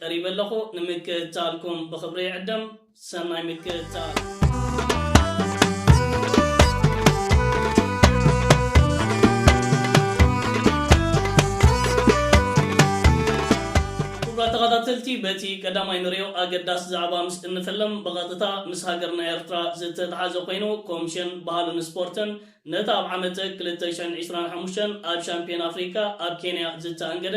ቀሪበ ኣለኹ ንምክትታልኩም ብኽብሪ ይዕደም ሰናይ ምክትታል። ክቡራት ተኸታተልቲ በቲ ቀዳማይ ንሪኦ ኣገዳሲ ዛዕባ ምስ እንፍልም ብቐጥታ ምስ ሃገርና ኤርትራ ዝተትሓዘ ኮይኑ ኮምሽን ባህልን ስፖርትን ነቲ ኣብ ዓመተ ክልተ ሽሕን ዒስራን ሓሙሽተን ኣብ ሻምፕዮን ኣፍሪካ ኣብ ኬንያ ዝተኣንገደ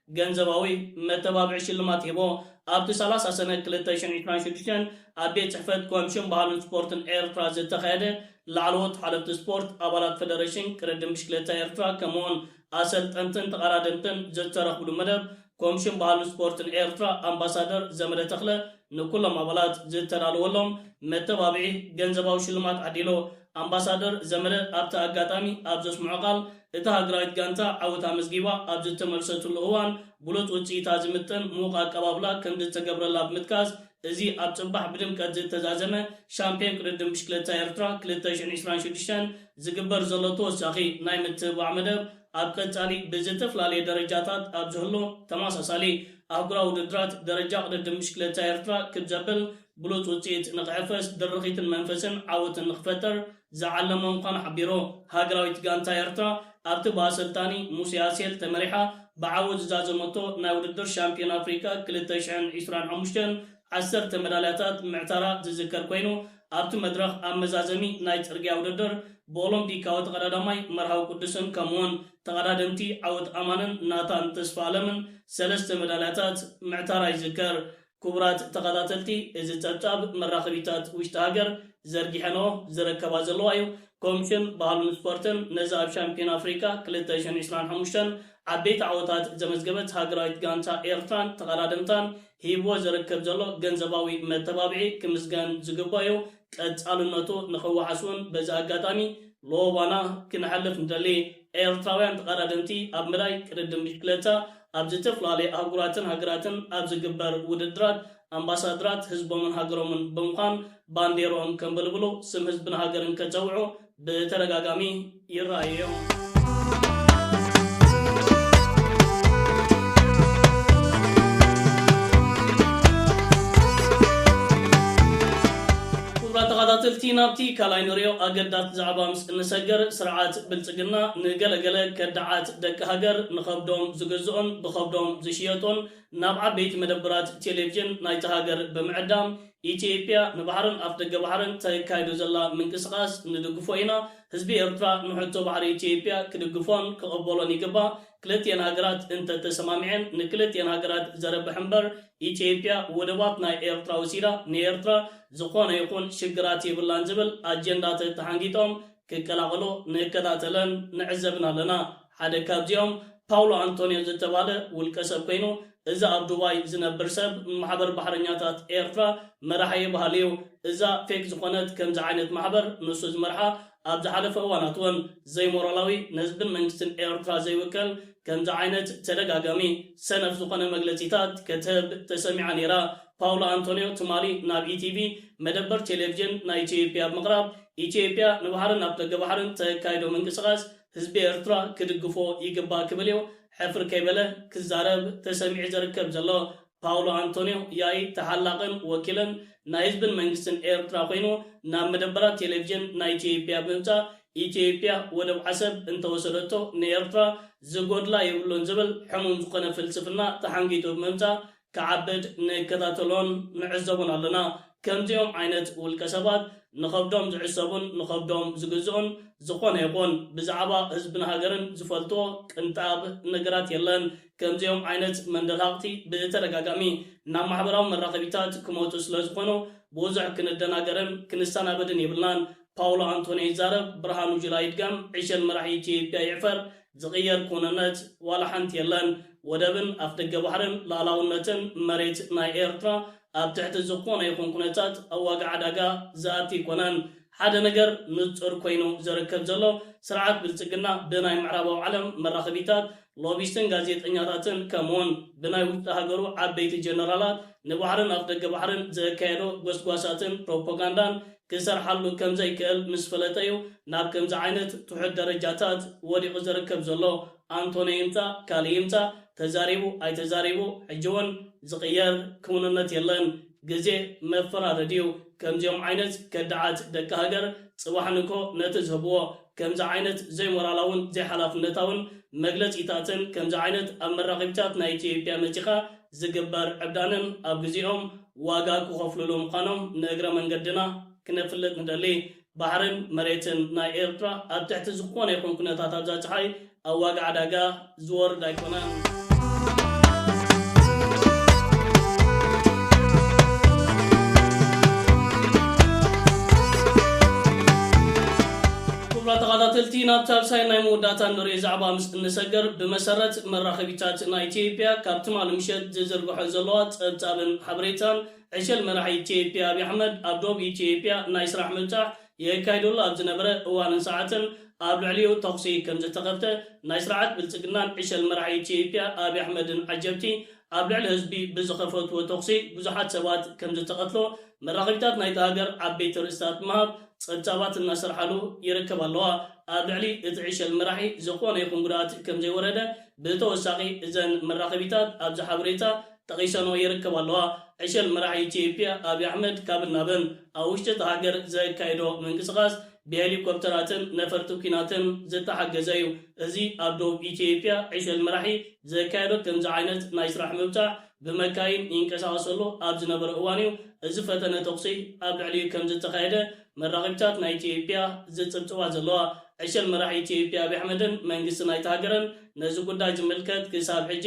ገንዘባዊ መተባብዒ ሽልማት ሂቦ። ኣብቲ ሰላሳ ሰነ ክልተ ሽሕን ዕስራን ሽዱሽተን ኣብ ቤት ጽሕፈት ኮምሽን ባህልን ስፖርትን ኤርትራ ዝተኻየደ ላዕለዎት ሓለፍቲ ስፖርት፣ ኣባላት ፈደረሽን ቅድድም ብሽክለታ ኤርትራ ከምኡ'ውን ኣሰልጠንትን ተቐዳደምትን ዝተረኽብሉ መደብ ኮምሽን ባህልን ስፖርትን ኤርትራ ኣምባሳደር ዘመደ ተኽለ ንኩሎም ኣባላት ዝተዳለወሎም መተባብዒ ገንዘባዊ ሽልማት ዓዲሎ። ኣምባሳደር ዘመደ ኣብቲ ኣጋጣሚ ኣብ ዘስምዖ ቃል፣ እታ ሃገራዊት ጋንታ ዓወት ኣመዝጊባ ኣብ ዝተመልሰትሉ እዋን ብሉጽ ውጽኢታ ዝምጥን ምዉቕ ኣቀባብላ ከምዝተገብረላ ብምጥቃስ፣ እዚ ኣብ ጽባሕ ብድምቀት ዝተዛዘመ ሻምፕዮን ቅድድም ብሽክለታ ኤርትራ ክልተ ሽሕን ዕስራን ሽዱሽተን ዝግበር ዘሎ ተወሳኺ ናይ ምትብባዕ መደብ ኣብ ቀጻሊ ብዝተፍላለየ ደረጃታት ኣብ ዝህሉ ተመሳሳሊ ኣህጉራዊ ውድድራት ደረጃ ቅድድም ብሽክለታ ኤርትራ ክብ ዘብል ብሉጽ ውጽኢት ንኽሕፈስ ድርኺትን መንፈስን ዓወትን ንኽፈጠር ዝዓለመ ምዃኑ ሓቢሩ። ሃገራዊት ጋንታ ኤርትራ ኣብቲ ብኣሰልጣኒ ሙሴ ኣሴል ተመሪሓ ብዓወት ዝዛዘመቶ ናይ ውድድር ሻምፕዮን ኣፍሪቃ ክልተ ሽሕን ዕስራን ሓሙሽተን ዓሰርተ መዳልያታት ምዕታራ ዝዝከር ኮይኑ፣ ኣብቲ መድረኽ ኣብ መዛዘሚ ናይ ጽርግያ ውድድር ብኦሎምፒካዊ ተቐዳዳማይ መርሃዊ ቅዱስን ከምኡ'ውን ተቐዳደምቲ ዓወት ኣማንን ናታን ተስፋኣለምን ሰለስተ መዳልያታት ምዕታራ ይዝከር። ክቡራት ተኸታተልቲ እዚ ጸብጻብ መራኸቢታት ውሽጢ ሃገር ዘርጊሐንኦ ዝረከባ ዘለዋ እዩ። ኮምሽን ባህልን ስፖርትን ነዛ ኣብ ሻምፒዮና ኣፍሪቃ ክልተ ሽሕን ዕስራን ሓሙሽተን ዓበይቲ ዓወታት ዘመዝገበት ሃገራዊት ጋንታ ኤርትራን ተቐዳደምታን ሂብዎ ዝርከብ ዘሎ ገንዘባዊ መተባብዒ ክምስገን ዝግበኦ'ዩ፣ ቀጻልነቱ ንኽወሓስ'ውን በዚ ኣጋጣሚ ሎባና ክነሕልፍ ንደሊ። ኤርትራውያን ተቐዳደምቲ ኣብ መዳይ ቅድድም ብሽክለታ ኣብ ዝተፈላለየ ኣህጉራትን ሃገራትን ኣብ ዝግበር ውድድራት ኣምባሳድራት ህዝቦምን ሃገሮምን ብምዃን ባንዴርኦም ከንበልብሉ፣ ስም ህዝብን ሃገርን ከጸውዑ፣ ብተደጋጋሚ ይረኣዩ እዮም። ክቡራት ተኻታተልቲ ናብቲ ካልኣይ ንሪኦ ኣገዳት ዛዕባ ምስ እንሰገር ስርዓት ብልፅግና ንገለ ገለ ከዳዓት ደቂ ሃገር ንኸብዶም ዝግዝኦን ብኸብዶም ዝሽየጦን ናብ ዓበይቲ መደብራት ቴሌቭዥን ናይታ ሃገር ብምዕዳም ኢትዬጵያ ንባሕርን ኣፍደገ ባሕርን ተካይዶ ዘላ ምንቅስቃስ ንድግፎ ኢና ህዝቢ ኤርትራ ንሕቶ ባሕሪ ኢትዬጵያ ክድግፎን ክቅበሎን ይግባእ ክልትኤን ሃገራት እንተተሰማሚዐን ንክልትኤን ሃገራት ዘርብሕ እምበር ኢትዬጵያ ወደባት ናይ ኤርትራ ወሲዳ ንኤርትራ ዝኮነ ይኩን ሽግራት የብላን ዝብል ኣጀንዳ ተተሓንጊጦም ክቀላቀሎ ንከታተለን ንዕዘብን ኣለና ሓደ ካብዚኦም ፓውሎ ኣንቶንዮ ዝተባህለ ውልቀሰብ ኮይኑ፣ እዚ ኣብ ዱባይ ዝነብር ሰብ ንማሕበር ባሕረኛታት ኤርትራ መራሒ'የ በሃሊ'ዩ። እዛ ፌክ ዝኾነት ከምዚ ዓይነት ማሕበር ንሱ ዝመርሓ ኣብ ዝሓለፈ እዋናት'ውን ዘይሞራላዊ ንህዝብን መንግስትን ኤርትራ ዘይውክል ከምዚ ዓይነት ተደጋጋሚ ሰነፍ ዝኾነ መግለጺታት ከትህብ ተሰሚዓ ነይራ። ፓውሎ ኣንቶንዮ ትማሊ ናብ ኢቲቪ መደበር ቴሌቭዥን ናይ ኢትዮጵያ ብምቕራብ ኢትዮጵያ ንባሕርን ኣፍደገ ባሕርን ተካይዶ ምንቅስቓስ ህዝቢ ኤርትራ ክድግፎ ይግባእ ክብል እዩ ሕፍር ከይበለ ክዛረብ ተሰሚዑ ዘርከብ ዘሎ። ፓውሎ ኣንቶንዮ ያኢ ተሓላቕን ወኪልን ናይ ህዝብን መንግስትን ኤርትራ ኮይኑ ናብ መደበራት ቴሌቭዥን ናይ ኢትዮጵያ ብምምጻእ ኢትዮጵያ ወደብ ዓሰብ እንተወሰደቶ ንኤርትራ ዝጎድላ የብሉን ዝብል ሕሙም ዝኾነ ፍልስፍና ተሓንጊጡ ብምምጻእ ክዓብድ ንከታተሎን ንዕዘቦን ኣሎና። ከምዚኦም ዓይነት ውልቀ ሰባት ንኸብዶም ዝዕሰቡን ንኸብዶም ዝግዝኡን ዝኾነ ይኹን ብዛዕባ ህዝብን ሃገርን ዝፈልጥዎ ቅንጣብ ነገራት የለን። ከምዚኦም ዓይነት መንደልሃቕቲ ብተደጋጋሚ ናብ ማሕበራዊ መራኸቢታት ክመጹ ስለዝኾኑ ብዙሕ ክንደናገርን ክንሰናበድን የብልናን። ፓውሎ ኣንቶንዮ ይዛረብ ብርሃኑ ጁላ ይድገም ዕሸል መራሒ ኢትዮጵያ ይዕፈር ዝቕየር ክውንነት ዋላ ሓንቲ የለን ወደብን ኣፍደገ ባሕርን ሉኣላውነትን መሬት ናይ ኤርትራ ኣብ ትሕቲ ዝኾነ ይኹን ኩነታት ኣብ ዋጋ ዕዳጋ ዝኣቲ ኣይኮነን ሓደ ነገር ንጹር ኮይኑ ዝርከብ ዘሎ ስርዓት ብልጽግና ብናይ ምዕራባዊ ዓለም መራኸቢታት ሎቢስትን ጋዜጠኛታትን ከምኡውን ብናይ ውሽጢ ሃገሩ ዓበይቲ ጀነራላት ንባሕርን ኣፍደገ ባሕርን ዘካየዶ ጎስጓሳትን ፕሮፖጋንዳን ክሰርሓሉ ከም ዘይክእል ምስ ፈለጠ እዩ ናብ ከምዚ ዓይነት ትሑት ደረጃታት ወዲቑ ዝርከብ ዘሎ። ኣንቶንዮ ይምጻእ ካልእ ይምጻእ፣ ተዛሪቡ ኣይተዛሪቡ ሕጂ እውን ዝቕየር ክውንነት የለን። ግዜ መፈራረዲ እዩ። ከምዚኦም ዓይነት ከዳዓት ደቂ ሃገር ጽባሕ ንግሆ ነቲ ዝህብዎ ከምዚ ዓይነት ዘይሞራላውን ዘይሓላፍነታውን መግለጺታትን ከምዚ ዓይነት ኣብ መራኸቢታት ናይ ኢትዮጵያ መጺኻ ዝግበር ዕብዳንን ኣብ ግዜኦም ዋጋ ክኸፍሉሉ ምዃኖም ንእግረ መንገድና ክነፍልጥ ንደሊ። ባሕርን መሬትን ናይ ኤርትራ ኣብ ትሕቲ ዝኾነ ይኹን ኩነታት ኣብዛ ጸሓይ ኣብ ዋጋ ዕዳጋ ዝወርድ ኣይኮነን። ክቡራት ተኻታተልቲ ናብ ሳልሳይን ናይ መወዳእታን ንርእይ ዛዕባ ምስ እንሰገር ብመሰረት መራኸቢታት ናይ ኢትዮጵያ ካብ ትማሊ ምሸት ዝዝርግሖ ዘለዋ ጸብጻብን ሓበሬታን፣ ዕሸል መራሒ ኢትዮጵያ ኣብይ ኣሕመድ ኣብ ዶብ ኢትዮጵያ ናይ ስራሕ ምብጻሕ የካይደሉ ኣብ ዝነበረ እዋንን ሰዓትን ኣብ ልዕሊኡ ተኹሲ ከምዝተኸፍተ ናይ ስርዓት ብልጽግናን ዕሸል መራሒ ኢትዮጵያ ኣብይ ኣሕመድን ዓጀብቲ ኣብ ልዕሊ ህዝቢ ብዝኸፈትዎ ተኹሲ ብዙሓት ሰባት ከምዝተቐትሎ መራኸቢታት ናይታ ሃገር ዓበይቲ ኣርእስታት ብምሃብ ጸብጻባት እናሰርሓሉ ይርከባ ኣለዋ። ኣብ ልዕሊ እቲ ዕሸል መራሒ ዝኾነ ይኹን ጉድኣት ከምዘይወረደ ብተወሳኺ እዘን መራኸቢታት ኣብዚ ሓበሬታ ጠቒሰንኦ ይርከባ ኣለዋ። ዕሸል መራሒ ኢትዮጵያ ኣብይ ኣሕመድ ካብን ናብን ኣብ ውሽጢ እታ ሃገር ዘካይዶ ምንቅስቓስ ብሄሊኮፕተራትን ነፈርቲ ኲናትን ዝተሓገዘ እዩ። እዚ ኣብ ደቡብ ኢትዮጵያ ዕሸል መራሒ ዘካየዶ ከምዚ ዓይነት ናይ ስራሕ ምብጻሕ ብመካይን ይንቀሳቐሰሉ ኣብ ዝነበረ እዋን'ዩ እዚ ፈተነ ተኹሲ ኣብ ልዕሊኡ ከምዝተኻየደ መራኺብታት ናይ ኢትዮጵያ ዝጽብጽባ ዘለዋ። ዕሸል መራሒ ኢትዮጵያ ኣብይ ኣሕመድን መንግስቲ ናይታ ሃገርን ነዚ ጉዳይ ዝምልከት ክሳብ ሕጂ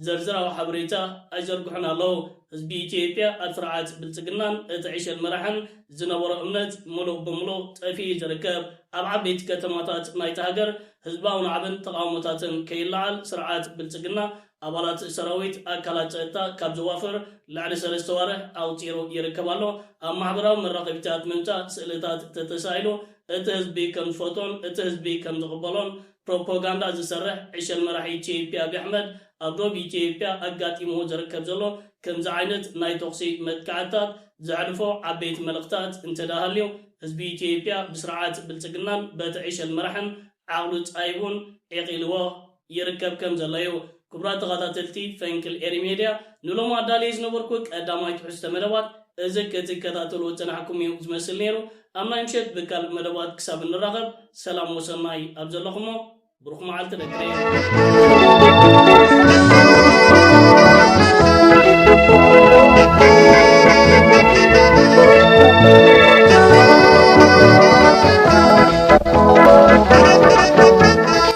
ዝርዝራዊ ሓበሬታ ኣይዘርግሑን ኣለዉ። ህዝቢ ኢትዮጵያ ኣብ ስርዓት ብልጽግናን እቲ ዕሸል መራሕን ዝነበሮ እምነት ምሉእ ብምሉእ ጠፊኡ'ዩ ዝርከብ። ኣብ ዓበይቲ ከተማታት ናይታ ሃገር ህዝባዊ ናዕብን ተቓውሞታትን ከይለዓል ስርዓት ብልጽግና ኣባላት ሰራዊት ኣካላት ጸጥታ ካብ ዘዋፍር ልዕሊ ሰለስተ ኣዋርሕ ኣቑጺሩ ይርከብ ኣሎ። ኣብ ማሕበራዊ መራኸቢታት ምምጻእ ስእልታት ተተሳኢሉ እቲ ህዝቢ ከም ዝፈትዎን እቲ ህዝቢ ከም ዝቕበሎን ፕሮፖጋንዳ ዝሰርሕ ዕሸል መራሒ ኢትዮጵያ ኣብይ ኣሕመድ ኣብ ዶብ ኢትዮጵያ ኣጋጢምዎ ዝርከብ ዘሎ ከምዚ ዓይነት ናይ ተኹሲ መጥቃዕትታት ዘሕልፎ ዓበይቲ መልእኽታት እንተድኣ ሃልዩ ህዝቢ ኢትዮጵያ ብስርዓት ብልጽግናን በቲ ዕሸል መራሕን ዓቕሉ ጻይቡን ዒቒልዎ ይርከብ ከም ዘሎ እዩ። ክቡራት ተኻታተልቲ ፈንቅል ኤሪ ሜድያ ንሎሚ ኣዳልየ ዝነበርኩ ቀዳማይ ትሕዝቶ መደባት እዚ ክትከታተልዎ ዝጸናሕኩም እዩ ዝመስል ነይሩ። ኣብ ናይ ምሸት ብካልእ መደባት ክሳብ እንራኸብ ሰላም ወሰናይ ኣብ ዘለኹሞ ብሩኽ መዓልቲ ደቂ ሪም።